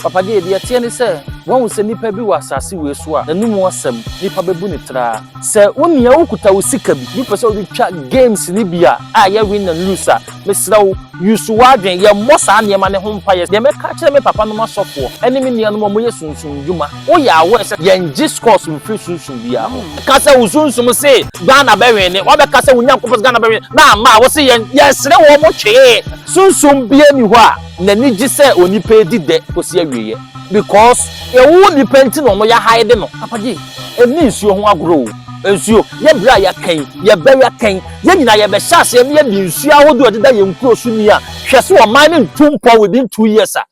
Papa Gee, deɛ ɛteɛ ne sɛ, woahu sɛ nipa bi wɔ asase wei so a, n'anom asɛm, nipa bɛbu no traa. Sɛ wo nua wokuta wo sika bi na wopɛ sɛ wode twa games no bi a, a ɛyɛ win and lose a, mesrɛ wo, use w'adwene, yɛmmɔ saa nneɛma no ho mpaeɛ. Deɛ mɛka akyerɛ me papa nom asɔfoɔ ne me nua nom a wɔyɛ sunsum nnwuma, woyɛ aware sɛ yɛngye scores mfiri sunsum biara hɔ. Ka sɛ wo sunsum se Ghana bɛwine, wabɛka sɛ wo Nyankopɔn se Ghana bɛwine, na amma a, wose yɛn, yɛsere wɔn twee. Sunsum biara nni hɔ a N'ani gye sɛ onipa redi dɛ kosi awieɛ because yɛwoo nipa nti na wɔyɛ hide no. Papa Gye, ɛnni nsuo ho agorɔ o. Nsuo, yɛ berɛ a yɛaka yi, yɛbɛyɛ kɛn? Yɛn nyinaa yɛbɛhyɛ aseɛ na yɛadi nsuo ahodoɔ a ɛdeda yɛn nkuro so ni a, hwɛ sɛ ɔman no ntu mpɔ within two years a.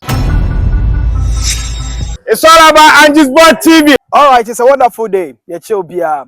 It's all about Angie's Board TV. Alright, it's a wonderful day. Yɛkyɛ obiara.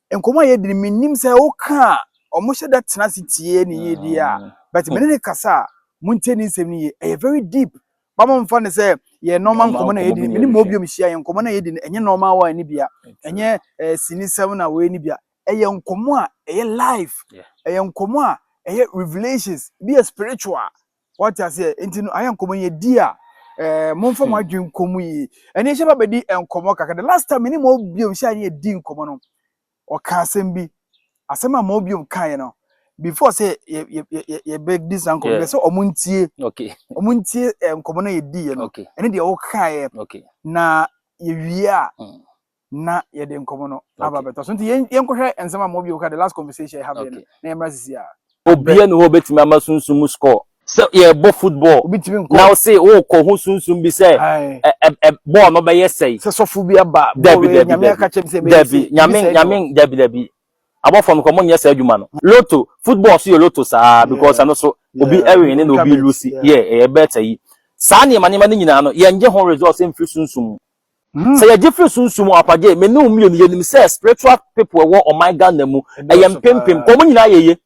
nkɔmmɔ a yɛdi no menim sɛ woka a wɔhyɛ da tena ase tie ne yie deɛ a mm. but mene ne kasa a montie ne nsɛm no yie ɛyɛ very deep ba momfa no sɛ yɛ nɔɔma nkɔmmɔ no a yɛdi mene ma obio mehyia yɛ nkɔmmɔ no a yɛdi no ɛnyɛ nɔɔma wa ne bia ɛnyɛ eh, sinisɛm na wei ne bia ɛyɛ nkɔmmɔ a ɛyɛ life ɛyɛ nkɔmmɔ a ɛyɛ revelations bi yɛ spiritual Wate aseɛ? Nti no ayɛ nkɔmmɔ yɛ di a ɛɛ momfa mo hmm. adwene nkɔ mu yie. Ɛne hyɛ ba bɛdi nkɔmmɔ kakra. The last time ne ma obiom hyɛ ne yɛdi nkɔmmɔ no ɔka asɛm bi. Asɛm a ma obiom kaeɛ no before sɛ yɛbɛdi saa nkɔmmɔ bɛ sɛ ɔmo ntie. Ɔmo ntie nkɔmmɔ no yɛdiiɛ no. Ɛne deɛ wokaeɛ. Na yɛwie a hmm. na yɛde nkɔmmɔ no aba bɛtɔ so nti yɛnkɔhwɛ nsɛm a mɔbi ka the last conversation ɛha bɛn na yɛmmra sisi a obiara ne hɔ obɛtumi ama sunsum mu score sɛ yɛbɔ football na wo se wokɔ ho sunsum bi sɛ bɔɔl no bɛyɛ sɛi sɛ sɔfo bi aba dabi dabi nyame aka kyɛm sɛ bɛyɛ sɛi nyame nyame dabi dabi abɔfam kɔ mo nyɛ saa adwuma no loto football so yɛ loto saa because ɛno so obi ɛwin ne na obi lusi yɛ ɛyɛ bɛɛta yi saa nneɛma nneɛma no nyinaa no yɛngye ho results mfiri sunsum mu Sɛ yɛgye firi sunsum mu ampa deɛ, me ne wo mmienu yɛnim sɛ spiritual people ɛwɔ ɔman Ghana mu ɛyɛ mpempem, nka wɔn nyinaa yɛye.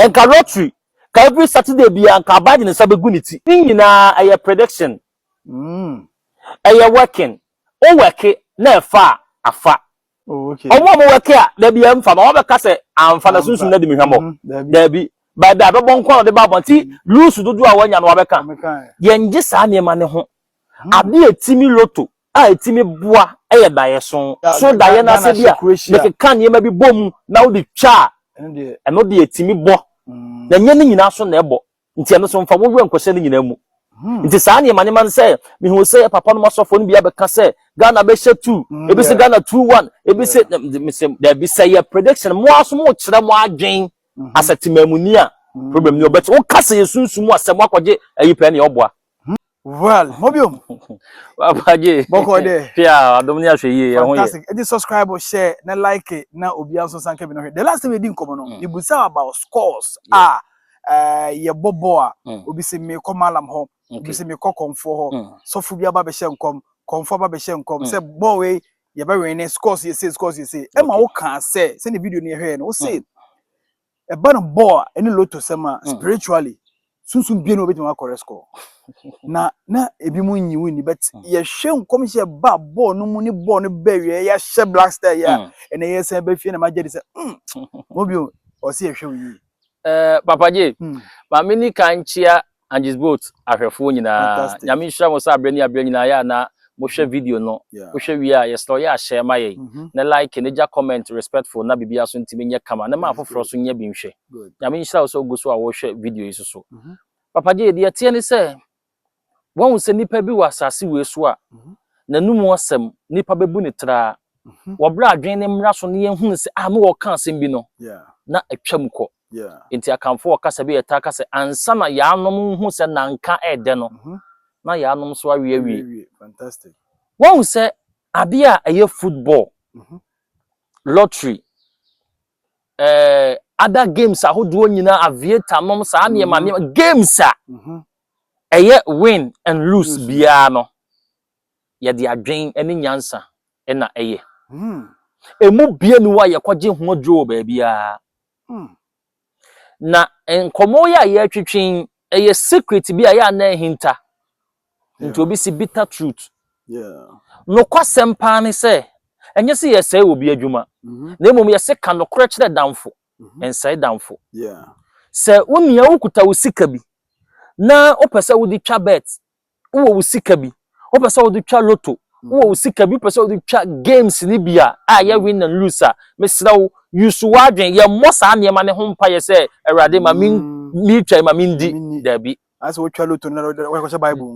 Nka lottery, ka every Saturday biara nka abaa de ne nsa bɛgu ne ti. Ne nyinaa ɛyɛ prediction, ɛyɛ working, wo worke na ɛfa a, afa. Oh, okay. Ọmụ ọmụ weke a dabi ya mfa ma ọmụ bɛka sɛ amfa na sunsun na di mi hwamɔ. Mm-hmm. Dabi. By the abɛbɔ nkwa na ɔde ba abɔnti mm-hmm. lusu dodo a wanya no abɛka. Yɛn gye saa nneɛma ne ho. Mm-hmm. Ade etimi loto a etimi boa ɛyɛ daeɛ so. So daeɛ no ase bi a mekeka nneɛma bi bɔ mu na wode twa a ɛno de etimi bɔ. Na nyɛ ne nyinaa so na ɛbɔ. Nti ɛno so mfa wo werɛ nkɔhyɛ ne nyinaa mu. Hmm. Nti saa nneɛma nneɛma no sɛ mehu sɛ papa nom asɔfoɔ no bi abɛka sɛ Ghana bɛhyɛ two hmm, ebi sɛ Ghana two one ebi sɛ mesɛ daabi sɛ yɛ prediction mo aso mo kyerɛ mo adwen hmm. asɛ temamuni a problem ni ɔbɛte woka sɛ yɛ sunsun mu asɛm akɔgye ayi pɛɛ ne ɔboa Well, mo biom. Papa J. Boko de. Pia, adom ni ahwe yie, ɛho yɛ. Fantastic. Edi subscribe, share, na like, na obi anso san kebi no hwe. The last time edi nkomo no, mm. ibusa about scores. Ah, eh, ye bobo a, mm. obi se me ko malam ho, okay. obi se me ko konfo ho. Mm. So fu bi aba be hye nkom, konfo aba be hye nkom. Mm. Se ball we ye be win scores ye say, scores ye say. Okay. Emma wo kan say, se ne video no ye hwe no, wo say. Mm. ɛba no bɔɔ a ɛne lotto sɛm a hmm. spiritually sunsun bie na obetumi akɔrɛ score na na ebi mu nyi wo nni but hmm. yɛhwɛ nkɔmhyɛ ba bɔɔl no mu ne bɔɔl no bɛ wie yɛahyɛ black star yɛ a hmm. ɛna yɛ sɛn bɛ fie na ma gye de sɛ mo bi ɔsi yɛhwɛ wo yie. papa gye maame ni kan kyia Angie's Boat ahwɛfoɔ nyinaa, Nyame nhyira mo sɛ aberɛ ne aberɛ nyinaa yɛ a na mohwɛ video no. Wohwɛ wie a, yɛsrɛ wo yɛ a share ma yɛn, ne like, ne gya comment respectful na biribiara so ntumi nyɛ kama, ne ma afoforɔ so nya bi nhwɛ. Nyame nhyira wo sɛ wogu so a wohwɛ video yi nso so. Papa Gyei, deɛ ɛteɛ ne sɛ, woahu sɛ nnipa bi wɔ asase wei so a, n'anomu asɛm, nnipa bɛbu no traa. Wɔbrɛ adwene ne mmara so na yɛhunu sɛ, ah, me wɔ ɔka asɛm bi no, na atwam kɔ. Enti Akanfoɔ ɔkasa bi a yɛtaa ka sɛ, ansa na yɛanom nhu sɛ nanka ɛyɛ dɛ no, na yɛanom nso awe awie. Woahu sɛ adeɛ a ɛyɛ football, lottery, eh, other games ahodoɔ nyinaa, aviator nom, saa nneɛma mm-hmm. nneɛma, games a mm-hmm. ɛyɛ win and lose biara no, yɛde adwen ne nyansa na ɛyɛ. Emu biara nni hɔ a yɛkɔgye ho aduro wɔ baabiara. Na nkɔmmɔ yi a yɛretwetwe yi, ɛyɛ secret bi a ɛyɛ a na ahinta. Nti obi si bitter truth. Nokwasɛm paa ne sɛ, ɛnyɛ sɛ yɛsɛe obi adwuma, mm-hmm. na mmom yɛse ka nokorɛ kyerɛ damfo, mm-hmm. nsɛe damfo. Sɛ wo nua wokuta wo sika bi na wopɛ sɛ wode twa bet wowɔ wo sika bi wopɛ sɛ wode twa loto mm. wowɔ wo sika bi wopɛ sɛ wode twa games no bi a a yɛ win and lose a mesrɛ wo yusu w'adwen yɛmmɔ saa nneɛma no ho mpayɛ sɛ awurade ma mm. metwa ma mendi daabi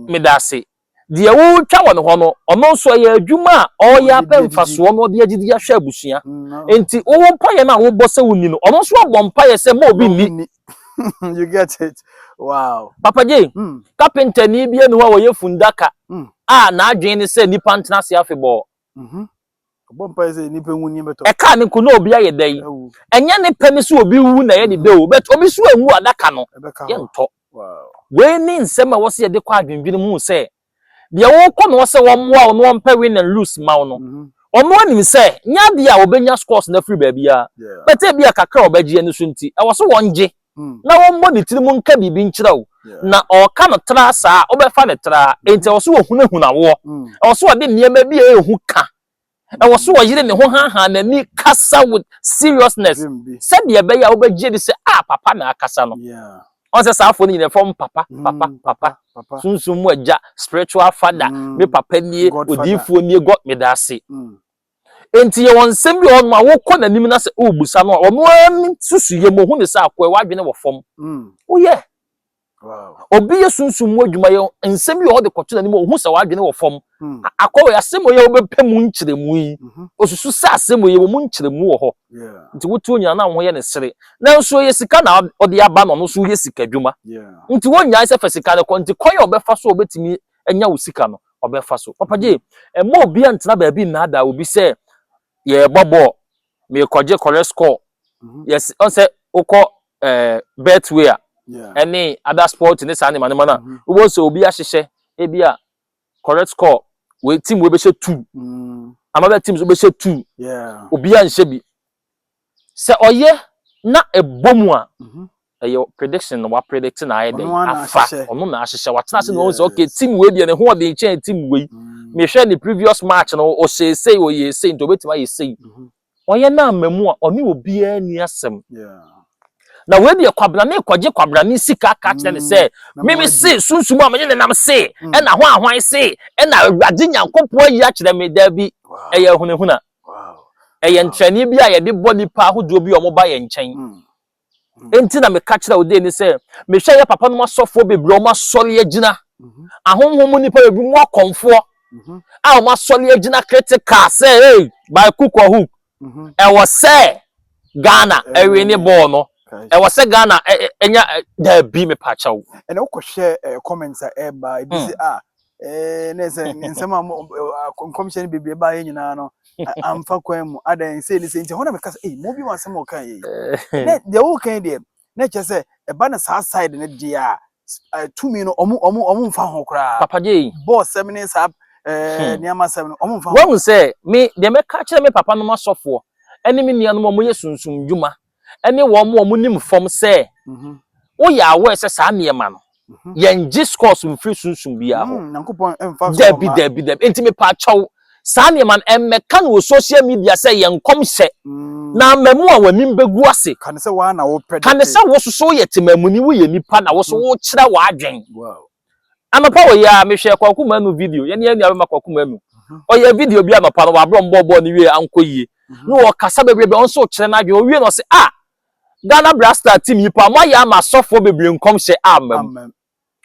meda ase deɛ wotwa wɔ ne hɔ no ɔno nso ɛyɛ adwuma a ɔyɛ apɛ mfasoɔ no ɔde agyidi ahwɛ abusua mm, nti wowɔ mpayɛ no a wobɔ sɛ wonni no ɔno nso abɔ mpayɛ sɛ ma obi nni you get it wow papa gye hmm. kapentani bi anu a wɔyɛ fundaka hmm. a n'adwene ne sɛ nnipa ntena ase afebɔɔ mhm. ɛka ne ko na obi ayɛ dɛ yi ɛnyɛ ne pɛ ne sɛ obi wu na ɛyɛ ne dɛ o but obi so anwu adaka no yɛntɔ wei ne nsɛm a wɔsɛ yɛde kɔ adwendwene mu sɛ Deɛ worekɔ no hɔ sɛ wɔmmoa wo na wɔmpɛ win and lose mma wo no, ɔno anim sɛ nyɛ adeɛ a wɔbɛnya scores no afiri baabiara, but ebia kakra a wɔbɛgye ani so nti, ɛwɔ sɛ wɔgye na wɔmmɔ ne tirim nka biribi nkyerɛ wo, na ɔreka no traa saa a, wobɛfa no traa, enti ɛwɔ sɛ wɔhunahuna woɔ, ɛwɔ sɛ wɔde nneɛma bi a ɛyɛ hu ka Ɛwɔ so ɔyere ne ho haahaa n'ani kasa with seriousness sɛdeɛ ɛbɛyɛ a wobɛgye adi sɛ a papa na akasa no. Ɔn sɛ saa afoɔ no nyinaa ɛfrɛ wɔn papa papa papa papa sunsum mu agya spiritual father me papa nie odiifoɔ nie God meda ase. Enti yɛwɔ nsɛm bi wɔ hɔnom a wokɔ n'anim na sɛ wobusa no a ɔno ara ne susuyɛ mu ɔhu ne sɛ akoa w'adwene wɔ fam. Woyɛ. obi yɛ sunsum mu adwuma yɛ nsɛm bi wɔ hɔ de kɔto n'anim ohu sɛ wadwene wɔ fam hmm. akɔwɛ asɛm yɛ wobɛpɛ mu nkyerɛmu yi mhm. osusu sɛ asɛm yɛ wɔ mu nkyerɛmu wɔ hɔ nti wotu onyina na ho yɛ ne sere nanso yɛ sika na ɔde aba na ɔno so yɛ sika adwuma nti wonyae sɛ fɛ sika no kɔ nti kwan a ɔbɛfa so ɔbɛtumi anya wo sika no ɔbɛfa so papa gye ɛma obi antena baabi nnaadaa obi sɛ yɛrebɔ bɔɔl merekɔgye correct score mhm. yɛs ɔsɛ wokɔ ɛɛ eh, betway a ɛne ada sport ne saa nneɛma nneɛma no a mhm. wobɛhu sɛ obi ahyehyɛ ebi a correct score wei team wei bɛhyɛ two mm. another team nso bɛhyɛ two obiara nhyɛ bi sɛ ɔyɛ na ɛbɔ mu a mhm. ɛyɛ prediction no wa predict na ayɛ dɛn afa ɔno na ahyehyɛ watena ase na ɔn sɛ okay team wei deɛ ne ho ɔden kyɛn team wei mm. mehwɛ ne previous match no ɔhyɛ esei ɔyɛ esei nti ɔbɛtumi ayɛ esei mhm. ɔyɛ no ama mu a ɔne obiara ni asɛm na wei deɛ kwabena ne kɔgye kwabena ne sika ka kyerɛ ne mm. sɛ mimi se sunsun a menye ne nam se mm. ɛna ho ahwan se ɛna awurade nyankopɔn ayi akyerɛ me daabi ɛyɛ hunahuna ɛyɛ nkyerɛnne bi a yɛde bɔ nipa ahodoɔ bi a wɔba yɛn nkyɛn Enti na meka kyerɛ Odeni sɛ, mehwɛ yɛ papanom asɔfoɔ bebree a wɔn asɔre agyina, ahonhom mu nnipa bebree mu akɔmfoɔ a wɔn asɔre agyina critical sɛ, hey, by cook or hook, ɛwɔ sɛ Ghana ɛwe ne bɔɔl no, ɛwɔ sɛ Ghana ɛnya daabi mepaakyɛw. Ɛna wokɔhwɛ comments a ɛba ebi sɛ ah Ee, na ɛsɛ nsɛm a nkɔmhyɛ no bebree baeɛ nyinaa no amfa kwan mu adɛn sei ne sɛ nti ɛhɔ na meka sɛ ei mo bi wɔ asɛm a ɔka yei na deɛ woka yi deɛ na ɛkyɛ sɛ ɛba no saa side no deɛ a eh, tumi no ɔmo ɔmo ɔmo mfa ho koraa papa gye yi bɔɔ sɛm ne saa eh, nneɛma sɛm no ɔmo mfa ho wɔn sɛ me deɛ mɛka kyerɛ me papa nom asɔfoɔ ɛne me nuanom a wɔyɛ sunsum dwuma ne wɔn a wɔnim fam sɛ woyɛ aware sɛ saa nneɛma no yɛngye scores mfiri sunsum biara hɔ hmm, dabi dabi dabi nti mepaakyɛw saa nneɛma no ɛmmɛka no wɔ social media sɛ yɛ nkɔmhyɛ hmm. na amamu a w'anim bɛgu ase kane sɛ wososo yɛ temamuni woyɛ nipa na woso hmm. wokyerɛ w'adwen Anɔpa wɔ yi ara, mehwɛɛ Kwaku Manu video, yɛne yɛn nuabarima Kwaku Manu. Ɔyɛɛ video bi anɔpa no, wabrɛ ɔmo bɔɔlbɔɔl no wie ankɔ yie. Na ɔkasa bebrebe, ɔno nso ɔkyerɛ n'adwene. Ɔwie no ɔse, ah, Ghana Black Star team yi paa, moayɛ ama asɔfoɔ bebree nkɔmhyɛ amma mu. Amen.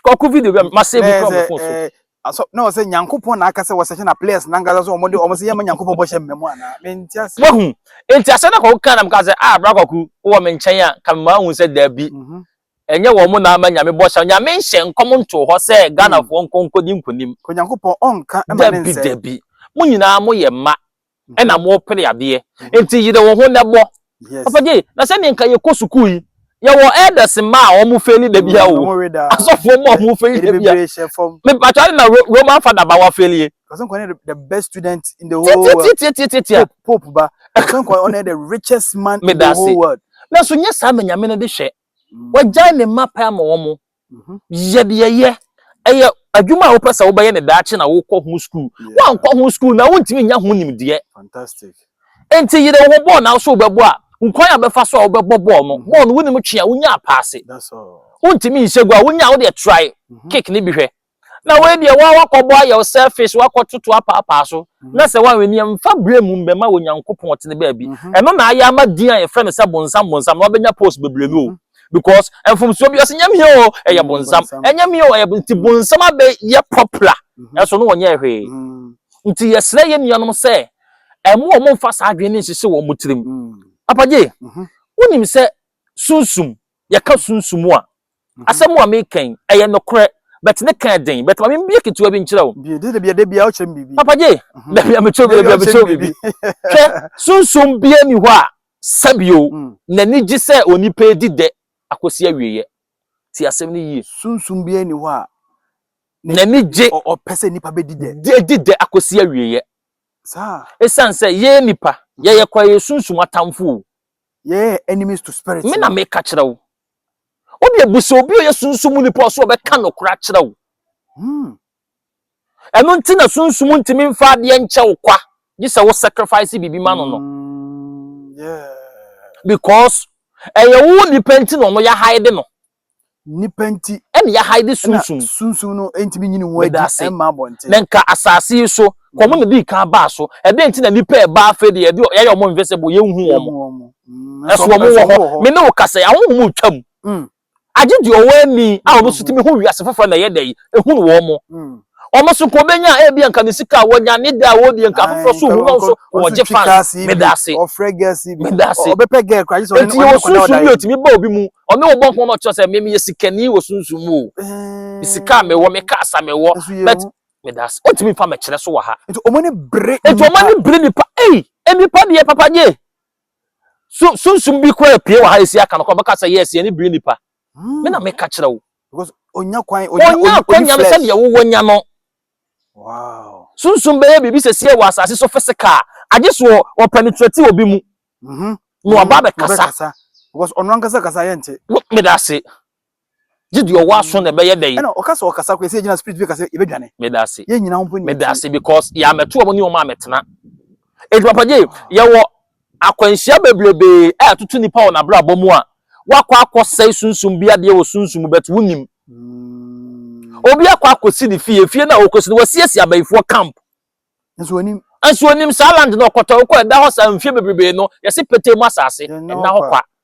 Kwaku video bi a ma save Bɛyɛ kura sɛ mo phone so. ɛɛ asɔ na ɔsɛ Nyankopɔn na aka sɛ wɔsɛhyɛ na players nankasa so wɔn de wɔn sɛ yɛma Nyankopɔn bɔhyɛ mmɛ mu anaa menti ase. Wahu? Enti asɛm na Kwaku kaa na mekaa sɛ, ah, bra Kwaku, wowɔ me nkyɛn a, nka memaa wohu sɛ daabi. Mhm. Ɛnyɛ wɔn na ama Nyame bɔhyɛ no. Nyame nhyɛ nkɔm ntoo hɔ sɛ Ghanafoɔ nkɔ nkɔdi nkonim. Onyankopɔn ɔnka ma ne nsɛe. Dabi dabi. Mo nyinaa mo yɛ mma ɛna mo pere adeɛ. Nti yere wo ho nɛ bɔ. Papa Gyei, na sɛdeɛ nka yɛ kɔ sukuu yi, yɛ wɔ elders mma a wɔn feli da biara o. Asɔfoɔ mma a wɔn feli da biara. Me patrɔ ade na Roman father ba wa feli e. Ɔsɛ nka ɔne the best student in the whole world. Tiatiatiatiatia. Pope ba. Ɔsɛ nka ɔne the richest man in the whole world. Nanso nyɛ saa na Nyame no de hwɛ. Wagyae ne mma pɛ ama wɔn. Yɛ deɛ yɛ. Ɛyɛ adwuma a wopɛ sɛ wobɛyɛ no daakye na wokɔ ho sukuu. Woankɔ ho sukuu no a, wontumi nnya ho nimdeɛ. Enti yere wo ho. Bɔɔl na wo nso wobɛbɔ a, hu kwan a wobɛfa so a wobɛbɔ bɔɔl no. Bɔɔl no, wonim twe a, wonya apaase. Wontumi nhyɛ gua a, wonya a, wodeɛ trae kick no bi hwɛ. Na wei deɛ woa woakɔbɔ ayɛ wo selfish woakɔtoto apaapaa so na sɛ woanwɛ ni a mfa berɛ mmom bɛma Onyankopɔn ɔtene baabi ɛno na ayɛ ama din a yɛfrɛ no sɛ bonsam bonsam no wabɛnya post bebree no o because mfomsoɔ bi ɔsɛ nyɛ me o ɛyɛ bonsam ɛnyɛ me o ɛyɛ bonsam nti bonsam abɛyɛ popular ɛso no wɔnyɛɛ hwee nti yɛsrɛ yɛ nuanom sɛ ɛmo ɔmo mfa saa adwene no nhyehye wɔn mo tirim Papa Gye wonim sɛ Sunsum, Yɛka sunsum a, asɛm a mereka yi, ɛyɛ nokorɛ, but ne ka yɛ den, but ma membue ketewa bi nkyerɛ wo. Bio, dabi, dabi a wokyerɛ me biribi. Papa Jay, dabi a mekyerɛ wo biribi, dabi a mekyerɛ wo biribi. Hwɛ, sunsum biara nni hɔ a, sɛbe o, n'ani gye sɛ onipa redi dɛ akɔsi awieɛ. Tie asɛm no yie. Sunsum biara nni hɔ a, n'ani gye, ɔpɛ sɛ nnipa bɛdi dɛ. Di dɛ akɔsi awieɛ. Saa. Ɛsiane sɛ yɛn nnipa, yɛyɛ kwa, yɛyɛ sunsum atamfo o, Yɛyɛ enemies to spirit. Me na meka kyerɛ wo. Wo deɛ bu sɛ obi a ɔyɛ sunsum mu nipa ɔso ɔbɛka nokora akyerɛ wo. Hmm. Ɛno nti na sunsum ntumi mfa adeɛ nkyɛ wo kwa gye sɛ wo sacrifice biribi ma no no. Hmm, yeah. Because ɛyɛ wo nipa nti na ɔno yɛ hide no. Nnipa nti. Ɛna yɛaha yi de sunsum. Ɛna sunsum no ntumi nyini wɔn adi ɛmma abɔnten. Na nka asase yi so, ka wɔn na di kan baa so. Ɛdɛn nti na nnipa ɛba afei de yɛde yɛyɛ wɔn invisible, yɛnhu wɔn. Ɛso wɔn wɔ hɔ. Me ne wo kasa yi, ahonhom retwa mu. Agye deɛ ɔwɔ ani a ɔno nso tumi hu wiase foforɔ na ɛyɛ dɛ yi, ɛhunu wɔn. wɔn nso nka wɔbɛnya a ebi nka ne sika a wɔnya ne da a wɔdi nka afoforɔ so hu no nso wɔgye fans meda ase meda ase eti yɛ wɔ sunsun bi a otumi ba obi mu ɔne wɔ bɔ nkɔmɔ ma ɔkyerɛ sɛ mmemme yɛ sikani wɔ sunsun mu o eh. sika a mewɔ me kaa sa mewɔ bɛt meda ase otumi fa mɛkyerɛ so wɔ ha eti wɔn ani bere eti wɔn ani bere nipa ei e nipa deɛ papa nye sunsun bi kura pie wɔ ha esi aka no kɔ bɛka sɛ yɛ esi ani bere nipa hmm. me na meka kyerɛ wo. Because onya kwan onya akwanya no sɛdeɛ wowɔ nya no. Wow. Sunsun bɛyɛ biribi sɛsie wɔ asase so physical. Agye so wɔ penetrate obi mu. Mhm. Na waba mm-hmm. abɛkasa. Because ɔno ankasa kasa yɛ nte. Meda ase. Gye deɛ ɔwɔ aso na ɛbɛyɛ dɛ yi. Ɛna ɔkasa ɔkasa kɔ ɛsɛ gyina spirit bi kasa yɛbɛdwane. Meda ase. Yɛn nyinaa ho mpo ni. Meda ase because yɛamɛto wɔn ne wɔn a mɛtena. Eti papa gye yɛwɔ Akwanhyia bebrebe a ɛtoto nipa wɔ n'abrabɔ mu a wakɔ akɔsɛe sunsum bi adeɛ wɔ sunsum mu but wonim. Obi akɔ akɔsi ne fie, fie no a ɔkɔsi no wɔasiesie abayifoɔ camp. Nso onim. Nso onim saa land no ɔkɔtɔ wokɔ ɛda hɔ saa mfie bebrebe no yɛse petee mu asase ɛna hɔ kwa.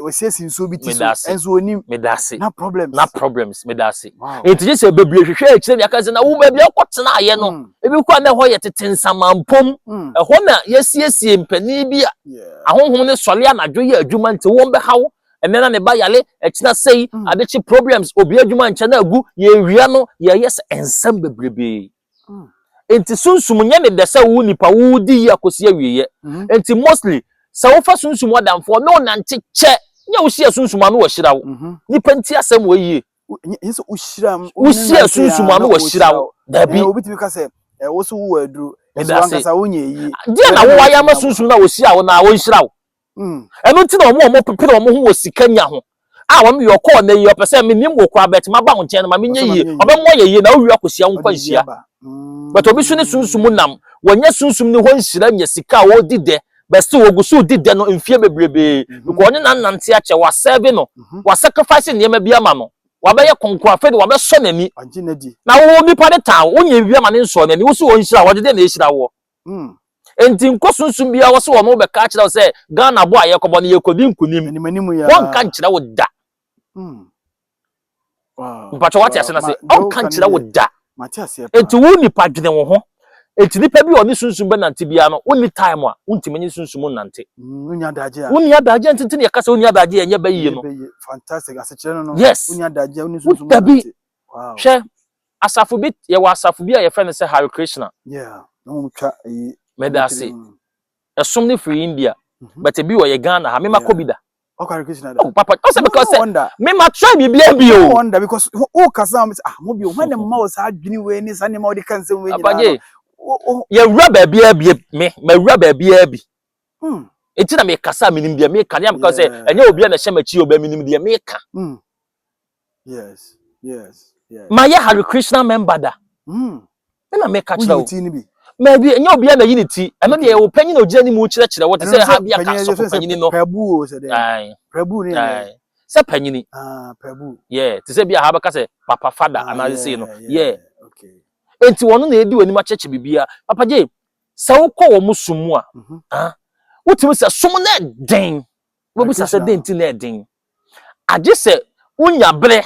wɔasiesie nsuo bi ti so ɛnso onim medase na problems na problems medase nti gye sɛ bebree hwehwɛ akyire ne aka sɛ na wo baabi akɔ tena ayɛ no mm. ebi kɔ a na ɛhɔ yɛ tete nsamampom mm. ɛhɔ na yɛsiesie mpanin bi a ahonhom ne sɔre anadwo yɛ adwuma nti wɔn bɛhaw ɛnɛ na ne ba yale ɛkyina sɛyi mm. adekye problems obi adwuma nkyɛn na agu yɛwia no yɛyɛ sɛ nsɛm bebrebe Mm. Nti sunsum nyɛ ne dɛ sɛ wo nipa wo di yi akosi awieɛ. Mm. Nti mostly sɛ wofa sunsum ɔdamfoɔ ne onante kyɛ ne a wohyia sunsum ano wahyira wo. Mm -hmm. Nipa nti asɛm wɔ yie. Nyɛ sɛ wohyira m. Wohyia sunsum ano wahyira wo. Dabi. Ɛna obi tumi ka sɛ eh, wo so wowɔ aduro. Ɛso ankasa wonyɛ yie. Deɛ na wowɔ ayɛ ama sunsum na wohyia wo na wɔnhyira wo. Mm. ɛno nti na wɔn a wɔpepere wɔn ho wɔ sika nya ho a wɔn yɛ ɔkɔɔ na yie ɔpɛ sɛ menim wɔ kura bɛt ma ba wo nkyɛn no ma menyɛ yie ɔbɛmo ayɛ yie na wowie akɔhyia wo nkwanhyia mm. but obi so ne sunsum mu nam wɔnyɛ sunsum ne hɔ nhyira nya sika a wɔredi dɛ bɛsi wɔgu so di dɛ no mfie bebrebe mhm. because ɔne nanante akyɛ wasɛve no mhm. wasacrifice nneɛma bi ama no wabɛyɛ kɔnkɔn afei de wabɛsɔ n'ani na wo nipa ne tan wonyɛ bi ama ne nsɔ n'ani wosi wɔn nhyira wɔde dɛ na ehyira wɔ Mm. Enti nkɔ sunsun biara wɔ sɛ wɔn bɛka akyerɛ wo sɛ Ghana bɔ a yɛkɔbɔ no yɛkɔdi nkunim. Animanimu ya. Wɔnka nkyerɛ wo da. Mm. Wow. Mpatwa wate ase na se ɔnka nkyerɛ wo da. Mate aseɛ paa. Enti wo nipa dwene wo ho. Enti nipa bi a ɔne sunsun bɛ nante biara no wonni time a wontumi nye sunsun mu nante. Mm, wonni adagye a. Wonni adagye nti nti na yɛka sɛ wonni adagye yɛnyɛ bɛyie no. Fantastic. Asekyerɛ no no. Yes. Wonni adagye a wonni sunsun mu nante. Wow. Hwɛ. Asafo bi, yɛwɔ asafo bi a yɛfrɛ no sɛ Hare Krishna. Yeah, na wɔn twa eyi. Mɛdaase. Ɛsom no firi India, mm-hmm. but ebi wɔ yɛ Ghana ha, mema kɔ bi da. Ɔkɔ Hare Krishna da. Oh papa, ɔsɛ because sɛ mema try biribi abi o. Wonder because o kasa wɔn sɛ ah mo bi o, wɔn na mma wɔ saa adwini wei ne saa nneɛma wɔde ka nsɛm wei nyinaa no. Yɛwura baabi a bi me, mɛwura baabi a bi. Hmm. Eti na mekasa a menim deɛ meka, ne ameka sɛ ɛnyɛ obi a na ɛhyɛ m'akyi ɔbɛ menim deɛ meka. Hmm. Yes, yes, yes. Ma yɛ Hare Krishna member da. Mm. Ɛna meka kyerɛ wo. Woyi ne bi. Ma bi nyɛ obi na yi ne ti. Ɛno deɛ ɛwɔ panyin na ogyina ne mu kyerɛkyerɛ wo te sɛ ha bi aka sɔfo panyin no. Prabu o sɛ dɛ. Prabu ne yɛ. Sɛ panyin. Ah, prabu. Yeah, te sɛ bi aha bɛka sɛ papa fada ah, anaa sɛ no. Yeah. Okay. Enti wɔn na edi wɔn anim akyɛkyɛ bibia. Papa gye sɛ wokɔ wɔn sum mu a, mhm. ah, wotumi sɛ som na ɛden. Wobisa sɛ den ti na ɛden. Agye sɛ wunya bere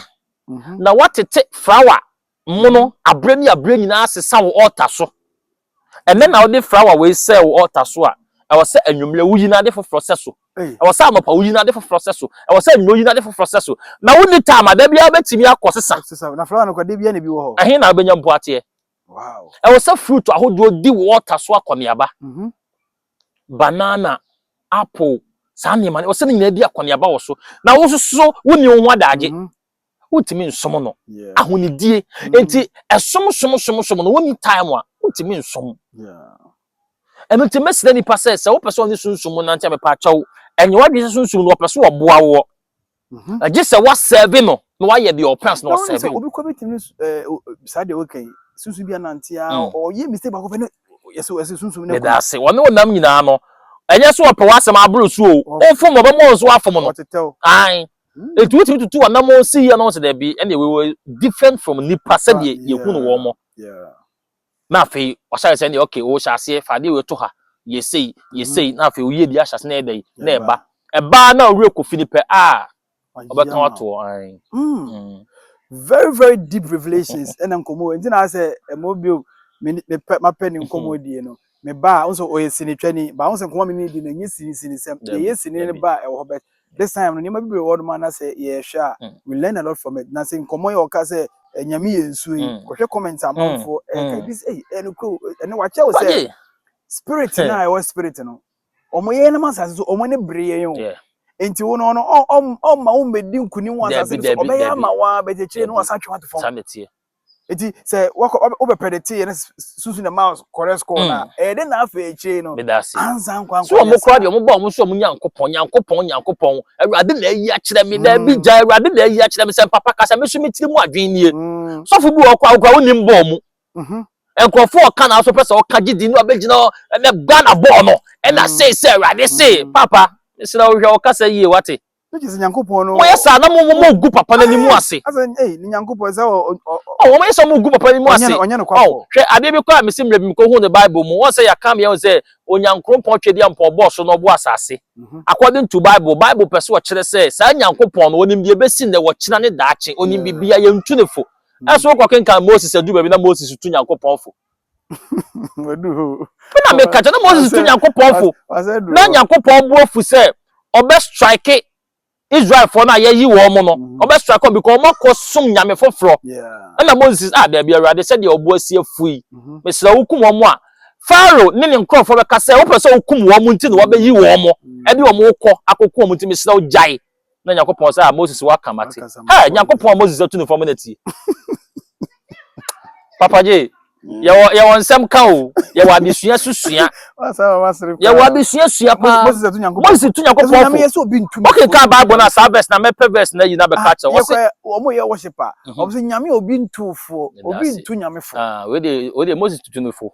na woatete flawa mono abere ne abere nyinaa asesa wo ɔɔta so. Ɛnnɛ na wode flawa wei sɛɛ wo ɔɔta so a, ɛwɔ sɛ anwummere wuyi no ade foforɔ sɛ so. Ɛwɔ sɛ anɔpa wuyi no ade foforɔ sɛ so. Ɛwɔ sɛ anwummere wuyi no ade foforɔ sɛ so. Na wonni taama a, da biara wobɛtumi akɔ sesa. Ɛhe na wobɛnya mpoateɛ? Ɛwɔ sɛ fruit ahodoɔ di wo ɔɔta so akɔneaba. banana, apple, saa nneɛma no, ɔsɛ ne nyinaa di akɔneaba wɔ so. Na wo nso so wonni wo ho adagye. Mhm. Wontumi nsom no. Yeah. Ahonidie. Mhm. Nti ɛsom som som som no wonni time a wontumi nsom. Yeah. Ɛno nti mɛsrɛ nipa sɛ sɛ wopɛ sɛ ɔne sunsum mu nante a mepɛ akyɛw. Ɛnyɛ w'adwene sɛ sunsum no wɔpɛ so wɔboa woɔ. Mm-hmm. ɛgye sɛ wasɛve no na wayɛ deɛ ɔpɛ ansa na wasɛve wo. obi kɔ bi tumi eh, saa deɛ ɔka yi sunsun bi anante a mm. ɔyɛ mistake baako pɛ no yɛsɛ yɛsɛ sunsun no. yɛda ase wɔne wɔn nam nyinaa no ɛnyɛ so ɔpɛ w'asɛm aboro so o ɔfom ɔbɛ mu ɔnso afom no ayi mm. etu wotumi tutu wɔn nam ɔnsi yɛ no ɔnso dɛbi ɛna ɛwɔ different from nipa sɛdeɛ ah, yɛhu no wɔn mo Na afei ɔhyɛɛ sɛ deɛ okay o hyɛ aseɛ fa adeɛ wei to ha yɛ sei yɛ mhm. sei na afei oyie bi ahyɛ ase na ɛyɛ dɛ na ɛba ɛbaa na ɔwerɛ kofi ne pɛ a ɔbɛka wato an. Mm. Mm. very very deep revelations ɛna nkɔmɔ nti na asɛ ɛmɔ bio mapɛ ne nkɔmɔ die no Me ba a, nso ɔyɛ sinitwani, ba ho sɛ nkɔmɔ me ne di no ɛnyɛ sini sini sɛm, deɛ ɛyɛ sini ne ba a ɛwɔ hɔ, but this time no nneɛma bi bere wɔ nom a na sɛ yɛhwɛ a mm. we learn a lot from it, na sɛ nkɔmɔ yi ɔka sɛ ɛnyame yɛ nsuo yi, mm. kɔhwɛ comments amanfoɔ mm. ɛka ebi sɛ ɛyɛ no kuro ɛne wakyɛw sɛ spirit na ɛwɔ spirit no, wɔn yɛ nam asase so wɔn ne bere yɛn o. Yeah. nti wo no ɔno ɔma wo mmɛdi nkunim wɔ asase no so ɔbɛyɛ ama wo a bɛkyekyere no ɔsan twe wato fam eti sɛ wɔkɔ wɔbɛ pɛdɛte yɛ ne sunsun na mouse kɔrɛ score hmm. na ɛyɛ de na afɛ ekyire no ansa nkwa nkwa so wɔn kora deɛ wɔn bɔ wɔn so wɔn nyankopɔn nyankopɔn nyankopɔn awurade na ayi akyerɛ mi na ebi hmm. gya awurade na ayi akyerɛ mi sɛ papa kasa mi so mi tiri mu adwene nie hmm. sɔfo bi wɔ ɔkɔ akora wɔn nim bɔɔ mu mhm. nkurɔfoɔ ɔka na aso pɛ sɛ ɔka gye di no abɛgyina ɛnɛ ghana bɔɔl no ɛna sei sɛ awurade sei papa mesrɛ wohwɛ ɔkasa yie wate Ne gye sɛ Nyankopɔn no. Wɔyɛ saa na mo mo mo gu papa n'anim Ae, ase. Asɛ ei ne Nyankopɔn sɛ ɔ ɔ ɔ Ɔ wɔn yɛ sɛ wɔn gu papa n'anim ɔnyɛ ase. no ɔnyɛ no Ɔ kwafoɔ. hwɛ adeɛ bi kɔ a mesi mmerɛ bi mekɔ hu no Bible mu wɔn sɛ yɛaka ama yɛn hu sɛ Onyankrompɔn Twɛdeampɔn ɔbɔɔ soro na ɔbɔɔ asase Mhm. according to Bible Bible pɛ sɛ ɔkyerɛ sɛ saa Nyankopɔn no ɔnim deɛ ɛbɛsi nnɛ ɔkyena ne daakye ɔnim Yeah. biribiara yɛntu ne fo ɛso wokɔ kenkan Moses aduru baabi na Moses tu Nyankopɔn fo na meka kyɛ na moses tu nyankopɔn fo na nyankopɔn bo afu sɛ ɔbɛ strike israelfoɔ no a yɛyi wɔn mo no mm-hmm. ɔbɛ strike wɔn because wɔn akɔ som nyame foforɔ ɛna moses ah daabi awurade sɛdeɛ ɔbo asi afu yi mm-hmm. mesrɛ wokum wɔn mo a faro ne ne nkurɔfoɔ bɛka sɛ wopɛ sɛ wokum wɔn mo nti na wɔbɛyi wɔn mo ɛde wɔn kɔ akɔku wɔn mo nti mesrɛ wo gyae na nyankopɔn sɛ a moses waka mate ɛ nyankopɔn a moses atu no fam na tie papa gye yɛwɔ yɛwɔ nsɛm ka o yɛwɔ adesua so sua yɛwɔ adesua sua paa moses tu nyankopɔn fo oke ka bible no a saa verse na mɛpɛ verse na yi na bɛka kyɛ wɔsɛ wɔn yɛ worship a wɔn sɛ nyame obi ntu fo obi ntu nyame fo wei de wei de moses tutu no fo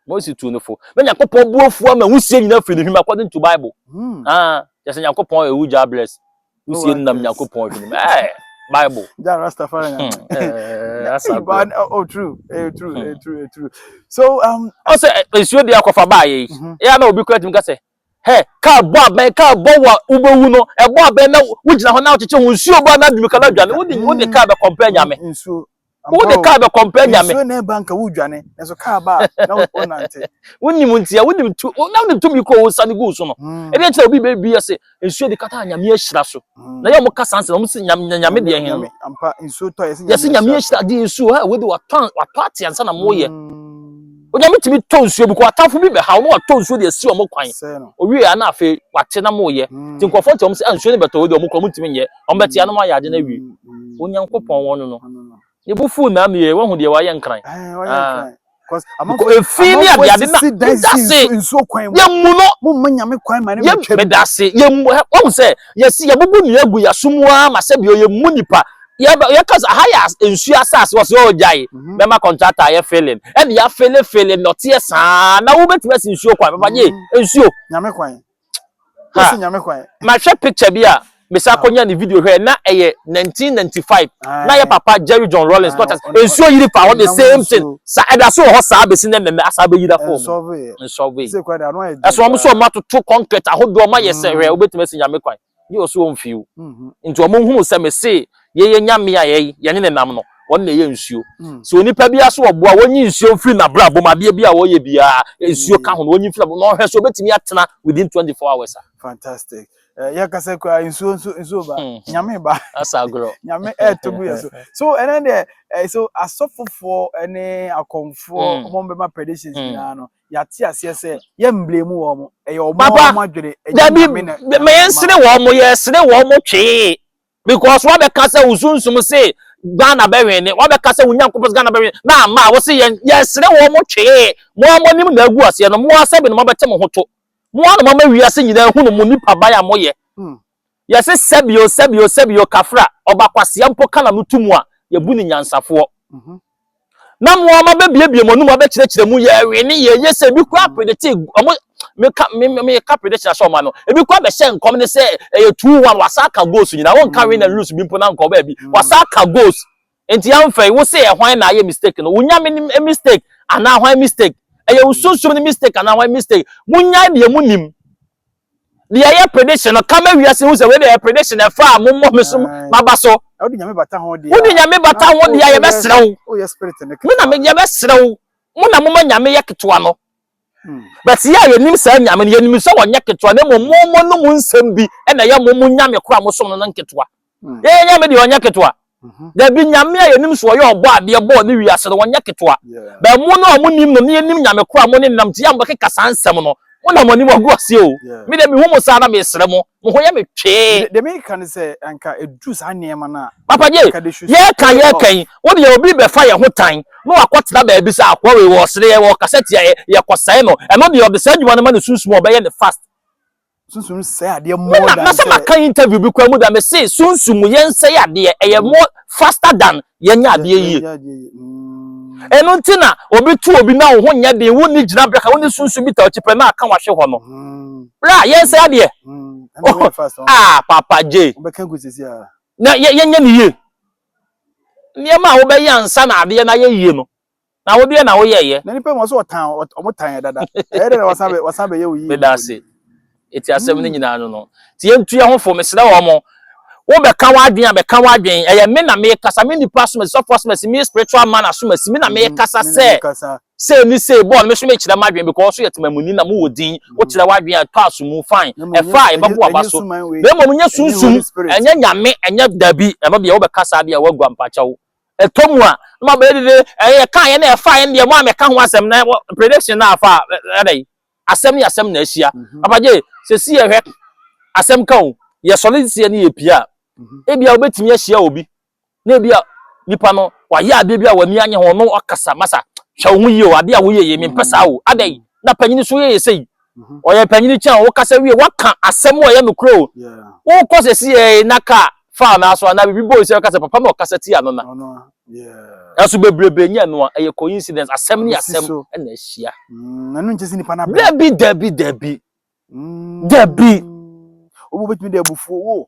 Mose tuu no fo. Na Nyankopɔn bo afu ama wusie nyina firi ne hwim according to Bible. Hmm. Ah, just Nyankopɔn ewu ja bless. Wusie nam Nyankopɔn hwim. Eh, Bible. Ja Rastafari nyame. Hmm, eh, eh asa go. Oh, true. Eh, true, eh, hmm. true, eh, true. So, um, I say eh, nsuo de akɔfa ba ye. Mhm. Ya na obi kura tim ka sɛ, "Hey, ka bɔ abɛn, ka bɔ wa ubewu no. E bɔ abɛn na wo gyina ho na wo kyekye ho nsuo ba na dumi ka na dwane. Wo de wo de ka be compare nyame." Nsuo. wo de kaa bɛkɔ mpɛ nyame nsuo na ɛba nka wodwane nanso kaa ba a na wonante wonim ntia wonim tu na wonim tumi kɔ wo nsa ne gu so no ɛdeɛ kyerɛ obi bɛbi ase nsuo de kata nyame ahyira so na yɛ wɔn kasa nse na wɔn si nyame nyame deɛ hɛn no ampa nsuo tɔ yɛsi yɛsi nyame ahyira de nsuo ha wode watɔ watɔ ate ansa na mo yɛ onyame tumi tɔ nsuo bi kɔ atamfo bi bɛ ha wɔn watɔ nsuo de asi wɔn kwan owie a na afei wate na mo yɛ ti nkɔfɔ ti wɔn sɛ nsuo ne bɛtɔ wode wɔn kɔ wɔn tumi nyɛ Wɔbɛteɛ ano ma ayɛ ade no awie. Onyankopɔn wɔ no no. Ne bo fuw mmɛ amee, woahu deɛ wayɛ nkran. Ah. Efi ne ade ade na medase yɛmu no yɛ medase yɛmu wɔn sɛ yɛsi yɛbubu nua gu yɛso mu ara ma sɛbi ɔyɛ mu nipa yɛkasa ha yɛ nsuo asase wɔ so yɛ ɔgyae mɛma kɔntrata ayɛ feeling ɛde afeele feeling nɔteɛ saa na wobɛtumi asi nsuo kwan bɛba nye nsuo ha mahwɛ picture bi a mesa ah. kɔnya ne video hwɛ na ɛyɛ 1995 na yɛ papa jerry john rollins not as nsuo yiri fa hɔ the same thing sa ɛda so wɔ hɔ saa bɛsi ne mmɛmɛ asa bɛyira fam nsɔbe ɛso ɔmo so ɔmo atoto concrete ahodoɔ ɔmo ayɛ sɛ hwɛ wobɛtumi asi nyame kwan Gye wɔ so wɔ mfew. Nti wɔn hunu sɛ mese yeye nyame a yɛyi yɛne ne nam no wɔn na ɛyɛ nsuo. Sɛ onipa biara so ɔboa wɔnyi nsuo mfiri n'abrabɔ mu adeɛ biara ɔyɛ biara nsuo ka ho no wɔnyi mfiri n'abrabɔ na ɔhwɛ so ɔbɛtumi atena within 24 hours a. Fantastic. Eh, yɛ kasa kura nsuo nso nsuo ba hmm. nyame ba. Asa agorɔ. Nyame ɛɛto gu yɛ so. So ɛnɛ deɛ eh, so asɔfofoɔ ɛne akɔmfoɔ wɔn hmm. bɛma predictions hmm. nyinaa no yɛate aseɛ sɛ yɛmblame wɔn ɛyɛ wɔn Papa, wɔn adwene ɛnyɛ dabi nyame na ma nyame ama yɛnsere wɔn wɔn yɛsere wɔn twee because wabɛka sɛ wo sunsum se ghana bɛwene wabɛka sɛ wo nyankopɔn se ghana bɛwene na ama a wose yɛn yɛsere wɔn twee mo a moanim na agu aseɛ no mo a sɛbe na moabɛte mo ho to mo a na moama wiase nyinaa hunu mo nipa ban a moyɛ Hmm. Yɛse sɛbio sɛbio sɛbio Kafra ɔba kwasea mpo ka na no to mu a yɛbu no nyansafoɔ Na mo ara mo abɛbiebie mo anom abɛkyerɛkyerɛ mu yɛɛ wee ne yɛɛ yie sɛ ebi koraa predetee ɔmo meka me me meka prediction ahyɛ ɔmo ano ebi koraa bɛhyɛ nkɔm ne sɛ ɛyɛ two one wasa aka goals nyinaa wɔnka win and lose bi mpo na nka ɔbaa bi wasa aka goals Enti ɛmfɛe wo se ɛhwan na ayɛ mistake no, wo Nyame ne mistake anaa hwan mistake? Ɛyɛ wo sunsum ne mistake anaa hwan mistake? Monyae deɛ monim. Deɛ ɛyɛ prediction no, ka ma wiase hu sɛ wei deɛ ɛyɛ prediction ɛfa a mommɔ me so maba so. Wode Nyame bata ho deɛ a, wode Nyame bata ho deɛ a yɛbɛsrɛ wo, me na me yɛbɛsrɛ wo, mo na moma Nyame yɛ ketewa no. But yɛ a yɛnim saa Nyame no, yɛnim sɛ ɔnyɛ ketewa na mmom momo no mu nsɛm bi na ɛyɛ momo Nyame koro a mosom no no nketewa. Yɛn Nyame deɛ ɔnyɛ ketewa. Dabi, Nyame a yɛnim sɛ ɔyɛ ɔbɔ adeɛ bɔɔ ne wiase no, ɔnyɛ ketewa. But mo no a monim no na yɛnim Nyame koro a mo ne nenam nti yɛ a mobɛkeka saa nsɛm no, mo na moanim agu aseɛ o. Me deɛ mehu mo saa na mesrɛ mo, mo ho yɛ me twee. Deɛ me ka ne sɛ anka ɛduru saa nneɛma no a. Papa gye yɛka yɛka yi wo deɛ obi bɛfa yɛn ho tan na wakɔtena baabi sɛ akoa wei wɔsere yɛ wɔkasa tia yɛ yɛkɔsɛe no ɛno deɛ ɔde saa adwuma no ma ne sunsum ɔbɛyɛ ne fast sunsum sɛ adeɛ more than na sɛ maka interview bi kwan mu da me se sunsum yɛnsɛe adeɛ ɛyɛ more faster than yɛnyɛ adeɛ yie ɛno mm. nti na obi tu obi na wo ho nyɛ den wo ni gyina braka wo ni sunsun bi ta ɔkyi pɛ na aka wahwe hɔ no mm. bra yɛn sɛ adeɛ mm. oh, ah papa j na yɛnyɛ ne yie nneɛma a wobɛyɛ ansa na adeɛ na yɛ yie no Na wo deɛ na wo yɛyɛ. Na nipa mu so ɔtan ɔmo tan yɛ dada ɛyɛ dɛ na wasan bɛ wasan bɛyɛ wo yie. Meda ase ɛti asɛm no nyinaa no no ti yɛ ntu yɛ ho fo mesrɛ wɔ mo wo bɛ ka w'adwen a bɛ ka w'adwen ɛyɛ me na me kasa me nipa asomasi sɔfo asomasi me spiritual man asomasi me na me kasa sɛ sei ne sei bɔɔ no me so me kyerɛ m'adwen because so yɛ tema mu ni na mo wɔ din wo kyerɛ w'adwen a tɔ aso mu fine ɛfa a ɛbɛbo aba so na mmom nyɛ sunsum ɛnyɛ nyame ɛnyɛ dabi ɛno deɛ wo bɛ kasa deɛ wo agua mpakyɛw Ɛtɔ mu a, na mabɛyɛ dede, ɛɛ, ɛkaeɛ na ɛfaeɛ no deɛ, mo a mɛka ho asɛm na wɔ, prediction na afa a, ɛ, ɛdɛ yi, asɛm ne asɛm na ahyia. Mhm. Papa Gye, sɛsi yɛhwɛ, asɛm ka o, yɛsɔre nsia ne yɛpie a, mhm. ebia wobɛtumi ahyia obi, na ebia nipa no, wayɛ adeɛ bi a w'ani anye ho, no ɔkasa, masa, hwɛ wo ho yie o, adeɛ a woyɛ yɛ, mempɛ saa o, adɛ yi, na panyini so yɛ yɛ sɛ yi, Mhm. ɔyɛ panyin kyɛn wo kasa wie waka asɛm a ɛyɛ nokorɛ o Yeah. wokɔ sɛ si yɛ na kaa faa no aso anaa biribi bɔɔ sɛ ɔka sɛ papa ma ɔkasa ti ano na Ɔno a. Yeah. nanso bebrebe nyɛ ɛno a ɛyɛ coincidence asɛm ne Ɛsi asɛm so. ɛna ahyia Mm, ɛno nkyɛ sɛ nipa no abɛn. dabi dabi dabi Mm. Dabi. Obi wɔ hɔ a, obɛtumi de abufuo wo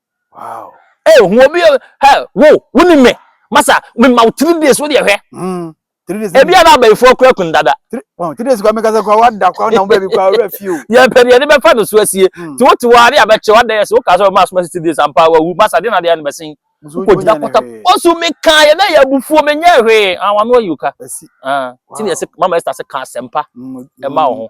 Wow. Hey, eh, who be hey, who who ni me? Masa, me ma three days wo dey hwe. Mm. Three days. Ebi ana ba ifo kura kun dada. Wow, three days kwa me kasa kwa wa da kwa na wo baby kwa ora fi o. Ye pe de be fa no so asie. Hmm. Ti wo ti wa de abeche wa dey so ka so ma so ma three days ampa wa wu. Masa de na de na be sin. Ko jina kota. Osu me kan ye na ya bufuo me nya hwe. Ah, wa no ayi ka. Asi. Ah. Ti ne se mama Esther se ka sempa. E ma wo ho.